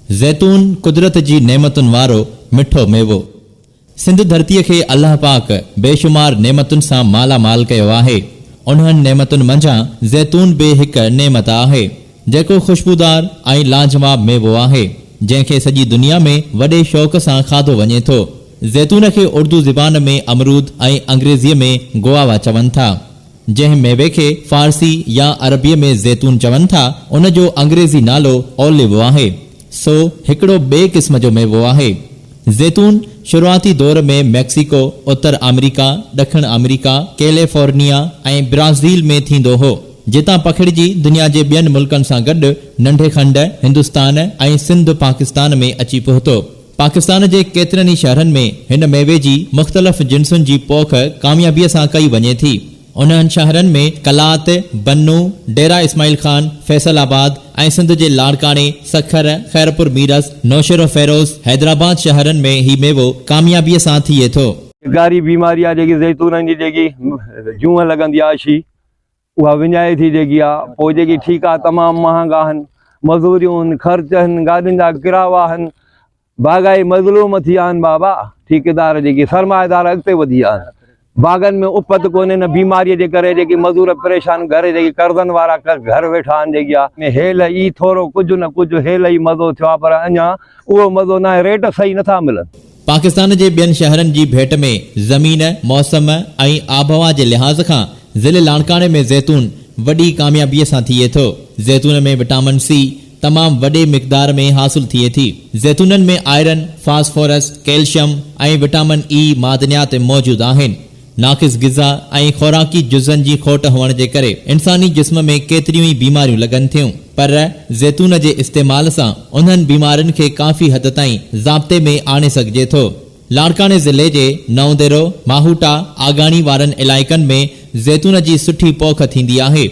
زيتون قدرت جي نعمتن وارو مٺو ميوو. سنڌ ڌرتيء کي الله پاڪ بيشمار نعمتن سان مالا مال ڪيو آهي. انهن نعمتن منجهان زيتون به هڪ نعمت آهي، جيڪو خوشبودار ۽ لاجواب ميوو آهي، جنهن کي سڄي دنيا ۾ وڏي شوق سان کاڌو وڃي ٿو. زيتون کي اردو زبان ۾ امرود ۽ انگريزيء ۾ گواوا چون ٿا. جنهن ميوي کي فارسي يا عربيء ۾ زيتون چون ٿا، ان جو انگريزي نالو Olive آهي. سو هڪڙو ٻئي قسم جو ميوو آهي. زيتون شروعاتي دور ۾ ميڪسيڪو، اتر آمريڪا، ڏکڻ آمريڪا، ڪيليفورنيا ۽ برازيل ۾ ٿيندو هو، جتان پکڙجي دنيا جي ٻين ملڪن سان گڏ ننڍي کنڊ، هندستان ۽ سنڌ پاڪستان ۾ اچي پهتو. پاڪستان جي ڪيترن ئي شهرن ۾ هن ميوي جي مختلف جنسن جي پوک ڪاميابيء سان ڪئي وڃي ٿي. انهن شهرن ۾ قلات، بنو، ڊيرا اسماعيل خان، فيصل آباد ۽ سنڌ جي لاڙڪاڻي، سکر، خيرپور ميرس، نوشهروفيروز، حيدرآباد شهرن ۾ هي ميوو ڪاميابيء سان ٿئي ٿو. ڳاري بيماري آهي جيڪي زيتونن جي جيڪي جونء لڳندي آهي شي اها وڃائي ٿي جيڪي آ پوء جيڪي ٺيڪا تمام مهانگا هن مزوريون هن خرچ هن گاڏين جا ڪراوا هن باغائي مظلوم ٿي آهن بابا ٺيڪيدار جيڪي سرمائيدار اڳتي وڌي آ هن باغن ۾ اپت ڪونهي نه بيماري جي ڪري جيڪي مزور پريشان گهر جيڪي قرضن وارا گهر ويٺا هن جيڪي آ ۾ هيل اي ٿورو ڪجهه نه ڪجهه هيل اي مزو ٿيو آ پر اڃا اهو مزو نه آهي ريٽ صحيح نه ٿا ملن. پاڪستان جي ٻين شهرن جي ڀيٽ ۾ زمين، موسم ۽ آبهوا جي لحاظ کان ضلعي لاڙڪاڻي ۾ زيتون وڏي ڪاميابيء سان ٿئي ٿو. زيتون ۾ وٽامن سي تمام وڏي مقدار ۾ حاصل ٿئي ٿي. زيتونن ۾ iron, phosphorus, calcium ۽ vitamin A معدنيات موجود آهن. ناقص غذا ۽ خوراڪي جزن جي کوٽ هئڻ جي ڪري انساني جسم ۾ ڪيتريون ئي بيماريون لڳن ٿيون پر زيتون جي استعمال سان انهن بيمارين کي ڪافي حد تائين ضابطي ۾ آڻي سگهجي ٿو. لاڙڪاڻي ضلعي جي نئونديرو، ماهوٽا، آگاڻي وارن علائقن ۾ زيتون جي سٺي پوک ٿيندي آهي.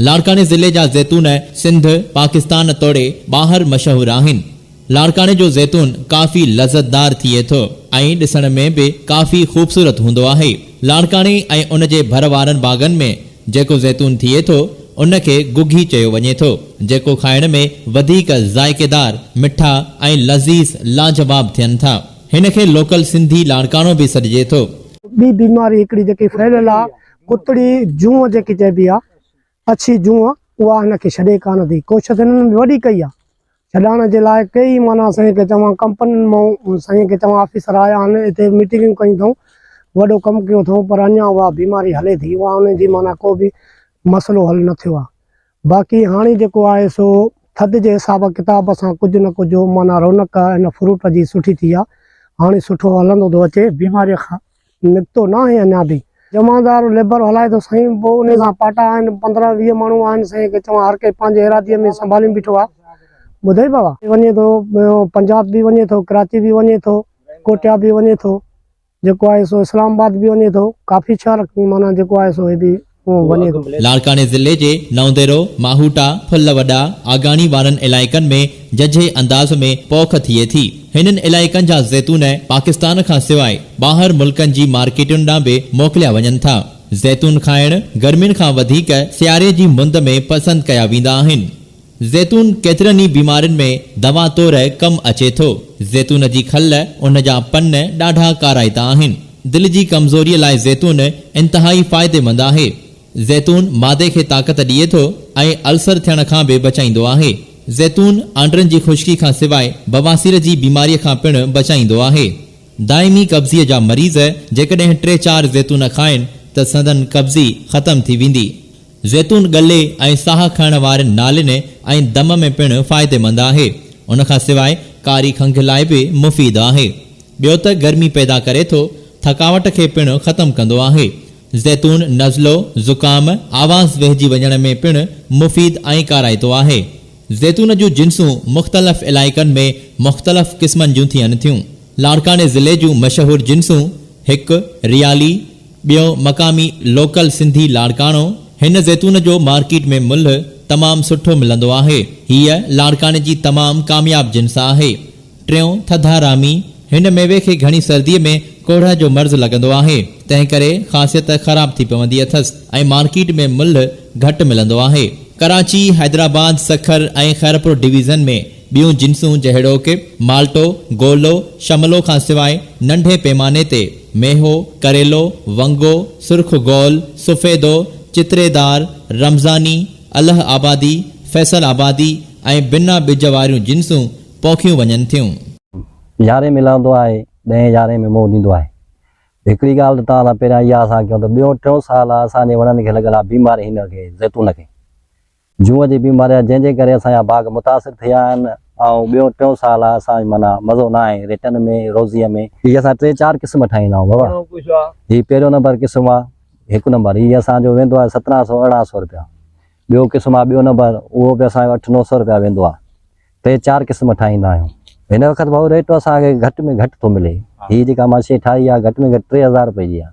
لاڙڪاڻي ضلعي جا زيتون سنڌ، پاڪستان توڙي ٻاهر مشهور آهن. لاڙڪاڻي جو زيتون ڪافي لذتدار ٿئي ٿو ۽ ڏسڻ ۾ به ڪافي خوبصورت هوندو آهي. لاڙڪاڻي ۽ ان جي ڀر وارن باغن ۾ جيڪو زيتون ٿئي ٿو، ان کي گگهي چيو وڃي ٿو، جيڪو کائڻ ۾ وڌيڪ ذائقيدار، مٺا ۽ لذيذ لاجواب ٿين ٿا. هن کي لوڪل سنڌي لاڙڪاڻو به سڏجي ٿو. ٻي بيماري هڪڙي جيڪي ڦهليل آهي ڪتڙي جونء جيڪي چئبي آهي اڇي جونء اها هن کي ڇڏي ڪانه ٿي. ڪوشش هنن به وڏي ڪئي آهي. ڇڏائڻ جي لاء ڪيئي معنيٰ سائين کي چوان ڪمپنين مئون سائين کي چوان آفيسر آيا آهن اتي ميٽنگون ڪيون اٿئون وڏو ڪم ڪيو اٿئون پر اڃان اها بيماري هلي ٿي اها انهن جي معنيٰ ڪو به مسئلو حل نه ٿيو آهي باقي هاڻي جيڪو آهي سو ٿڌ جي حساب ڪتاب سان ڪجهه نه ڪجهه معنيٰ رونق هن فروٽ جي سٺي ٿي آهي هاڻي سٺو هلندو ٿو اچي بيماري کان نڪتو ناهي اڃا به. جمعدار ليبر هلائي ٿو سائين پوء انهي سان پاٽا آهن پندرهن ويهه ماڻهو آهن سائين کي چوان هر ڪي پنهنجي ارادي ۾ سنڀالين بيٺو آ ٻڌئي بابا. وڃي ٿو پنجاب به وڃي ٿو ڪراچي به وڃي ٿو ڪوٽيا به وڃي ٿو جيڪو آهي سو اسلام آباد به وڃي ٿو ڪافي شهر معنيٰ جيڪو آهي سو هي به. اهو وڃي ٿو. لاڙڪاڻي ضلعي جي نئونديرو، ماهوٽا، ڦل وڏا، آگاڻي وارن علائقن ۾ ججهي انداز ۾ پوک ٿئي ٿي. هنن علائقن جا زيتون پاڪستان کان سواء ٻاهر ملڪن جي مارڪيٽن ڏانهن به موڪليا وڃن ٿا. زيتون کائڻ گرمين کان وڌيڪ سياري جي مند ۾ پسند ڪيا ويندا آهن. زيتون ڪيترن ئي بيمارين ۾ دوا طور ڪم اچي ٿو. زيتون جي کل، ان جا پن ڏاڍا ڪارائتا آهن. دل جي ڪمزوريء لاء زيتون انتهائي فائديمند آهي. زيتون معدي کي طاقت ڏئي ٿو ۽ السر ٿيڻ کان به بچائيندو آهي. زيتون آنڊرن جي خشڪي کان سواء بواسير جي بيماريء کان پڻ بچائيندو آهي. دائمي قبضيء جا مريض جيڪڏهن ٽي چار زيتون کائن ته سندن قبضي ختم ٿي ويندي. زيتون ڳلي ۽ ساهه کڻڻ وارين نالين ۽ دم ۾ پڻ فائديمند آهي. ان کان سواء ڪاري کنگهه لاء به مفيد آهي. ٻيو ته گرمي پيدا ڪري ٿو، ٿڪاوٽ کي پڻ ختم ڪندو آهي. زيتون نزلو، زڪام، آواز ويهجي وڃڻ ۾ پڻ مفيد ۽ ڪارائتو آهي. زيتون جون جنسون مختلف علائقن ۾ مختلف قسمن جون ٿين ٿيون. لاڙڪاڻي ضلعي جون مشهور جنسون، هڪ، ريالي، ٻيو مقامي لوڪل سنڌي لاڙڪاڻو، هن زيتون جو مارڪيٽ ۾ ملهه تمام سٺو ملندو آهي، هيء لاڙڪاڻي جي تمام ڪامياب جنس آهي. ٽيون ٿڌا رامي، هن ميوي کي گهڻي سرديء ۾ ڪوڙهه جو مرض لڳندو آهي، تنهن ڪري خاصيت خراب ٿي پوندي اٿس ۽ مارڪيٽ ۾ ملهه گهٽ ملندو آهي. ڪراچي، حيدرآباد، سکر ۽ خيرپور ڊويزن ۾ ٻيون جنسون جهڙوڪ، مالٽو، گولو، شملو کان سواء ننڍي پيماني تي، ميهو، ڪريلو، ونگو، سرخ گول، سفيدو، چتري دار، رمضاني، الهه آبادي، فيصل آبادي ۽ بنا ٻج واريون جنسون پوکيون وڃن ٿيون. يارهين ۾ لهندو آهي، ڏهين يارهين ۾ منهن ڏيندو آهي. هڪڙي ڳالهه ته توهان سان پهريان اها سان ڪيون ته ٻيون ٽيون سال اسان جي وڻن کي لڳل آهي بيماري هن کي زيتون کي. جون جي بيماري آهي جنهن جي ڪري اسان جا باغ متاثر ٿي ويا آهن ۽ ٻيو ٽيون سال آهي اسان معنيٰ مزو نه آهي ريٽن ۾ روزيء ۾. هي اسان ٽي چار قسم ٺاهيندا آهيون بابا هي پهريون نمبر قسم آهي هڪ نمبر هي اسان جو ويندو آهي سترهن سو ارڙهن سو رپيا ٻيو قسم آهي ٻيو نمبر اهو به اسان جو اٺ نو سو رپيا ويندو آهي ٽي چار قسم ٺاهيندا آهيون هن وقت ڀائو ريٽ اسان کي گهٽ ۾ گهٽ ٿو ملي هي جيڪا مان شيء ٺاهي آهي گهٽ ۾ گهٽ ٽي هزار رپئي جي آهي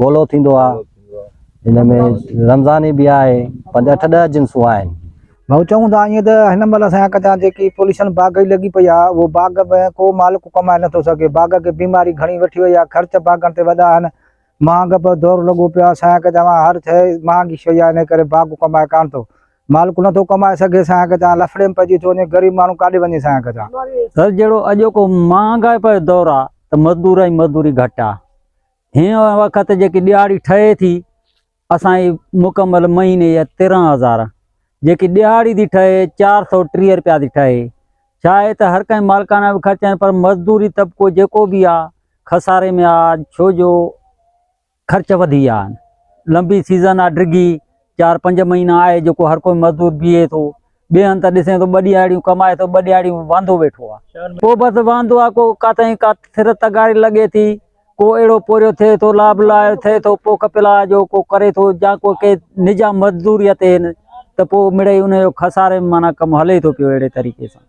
گولو ٿيندو آ ان ۾ رمضاني به آهي پنج اٺ ڏهه جنسون آهن. ڀائو چئون ٿا ائين ته هن مهل اسان جا ڪچا جيڪي پوليشن باغ جي لڳي پئي آ اهو باغ ۾ ڪو مالڪ ڪمائي نٿو سگهي باغ کي بيماري گهڻي وٺي وئي آ خرچ باغن تي وڏا آهن مهانگ به دور لڳو پيو آ اسان جا ڪچا هر شئي مهانگي شئي آ انهي ڪري باغ ڪمائي ڪانه ٿو مالڪ نٿو ڪمائي سگهي اسان جا ڪچا لڦڙي ۾ پئجي ٿو وڃي غريب ماڻهو ڪاڏي وڃي اسان جا ڪچا. سر جهڙو اڄوڪو مهانگائپ جو دور آ ته مزدور ۽ مزدوري گهٽ آ هن وقت جيڪي ڏهاڙي ٺهي ٿي اسان جي مڪمل مهيني جا تيرهن هزار جيڪي ڏهاڙي ٿي ٺهي چار سو ٽيهه روپيا ٿي ٺهي ڇا آهي ته هر ڪنهن مالڪانا به خرچ آهن پر مزدوري طبقو جيڪو به آ خساري ۾ آ ڇو جو خرچ وڌي ويا آهن لمبي سيزن آ ڊگهي چار پنج مهينا آهي جيڪو هر ڪو مزدور بيهي ٿو ٻئي هنڌ ته ڏسين ٿو ٻه ڏيهاڙيون ڪمائي ٿو، ٻه ڏيهاڙيون واندو ويٺو آ. ڪو بس واندو آ، ڪو ڪاتئين ڪا سر تغاري لڳي ٿي، ڪو اهڙو پورهيو ٿئي ٿو، لاب لاهيو ٿئي ٿو، پوک پلاء جو ڪو ڪري ٿو يا ڪو ڪي نجام مزدوريء تي هن ته پوء مڙئي ان جو خساري ۾ معنيٰ ڪم هلي ٿو پيو اهڙي طريقي سان.